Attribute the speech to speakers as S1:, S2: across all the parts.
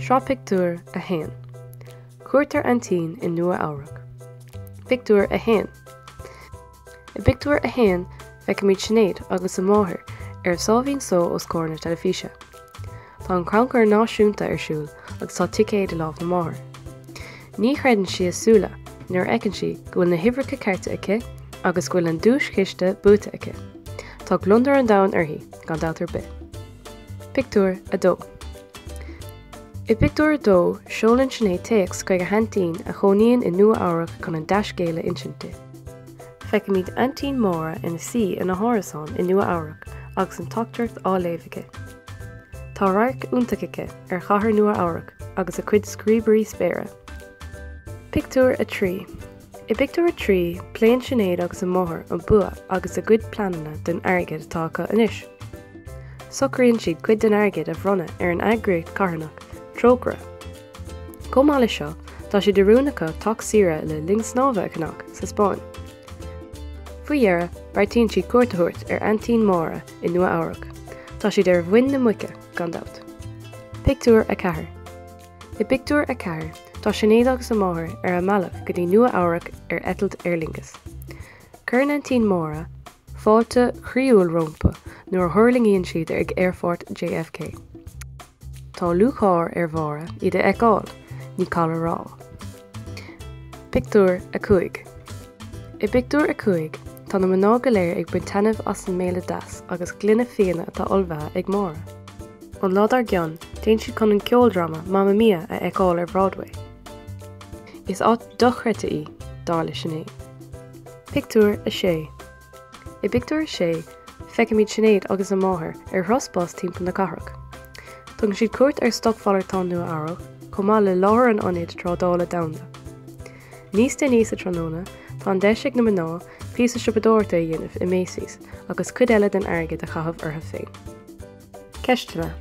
S1: Sraith pictiúr 1. Cuairt ar aintín i Nua-Eabhrac. Pictiúr 1. I bpictiúr 1, feicimid Sinéad agus a máthair ar a sáimhín só os comhair na teilifíse. Tá an Crannchur Náisiúnta ar siúl agus tá ticéad i lámh na máthar. Ní chreideann sí a súla nuair a fheiceann sí go bhfuil na huimhreacha cearta aici agus go bhfuil an duaischiste buaite aici. Tá gliondar an domhain uirthi gan dabht ar bith. Pictiúr 2. I bpictiúr 2 seolann Sinéad téacs chuig a haintín a chónaíonn i Nua Eabhrac chun an dea-scéal a insint di. Feicimid aintín Máire ina suí ina hárasán i Nua Eabhrac agus an teachtaireacht á léamh aici. Tá radharc iontach aici ar Chathair Nua-Eabhrac agus a cuid scríobairí spéire. Pictiúr 3. I bpictiúr 3, pléann Sinéad agus a máthair an bua agus a gcuid pleananna don airgead atá acu anois. Socraíonn siad cuid den airgead a bhronnadh ar an eagraíocht carthanach Trócaire. Chomh maith leis seo, tá sé de rún acu teach saoire le linn snámha a cheannach sa Spáinn. Faoi dheireadh, beartaíonn siad cuairt a thabhairt ar aintín Máire i Nua Eabhrac. Tá siad ar mhuin na muice, gan dabht. Pictiúr 4 I bpictiúr 4, tá Sinéad agus a máthair ar a mbealach go dtí Nua Eabhrac ar eitilt Aer Lingus. Cuireann Aintín Máire fáilte chroíúil rompu nuair a thuirlingíonn siad ag aerfort JFK. Tá lúcháir ar Mháire iad a fheiceáil, ní call a rá. Pictiúr 5 I bpictiúr a cúig, tá na mná go léir ag baint taitnimh as an mbéile deas agus gloine fíona atá ullmhaithe ag Máire. An lá dár gcionn, téann siad chun an ceoldráma Mamma Mia a fheiceáil ar Bhroadway. Is áit dochreidte í, dar le Sinéad. Pictiúr 6 I bpictiúr a sé, feicimid Sinéad agus a máthair ar thuras bus timpeall na cathrach. Tugann siad cuairt ar stocmhalartán Nua Eabhrac, chomh maith le láthair an ionaid trádála domhanda. Níos déanaí sa tráthnóna, tá an deis ag na mná píosa siopadóireachta a dhéanamh i Macy's agus cuid eile den airgead a chaitheamh orthu féin. Ceisteanna.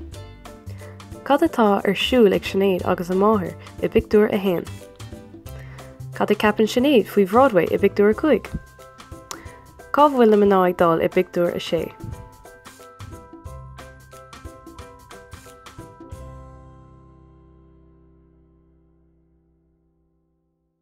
S1: Cad atá ar siúl ag Sinéad agus a máthair i bpictiúr a haon? Cad a ceapann Sinéad faoi Bhroadway i bpictiúr a cúig? Cá bhfuil na mná ag dul i bpictiúr a sé?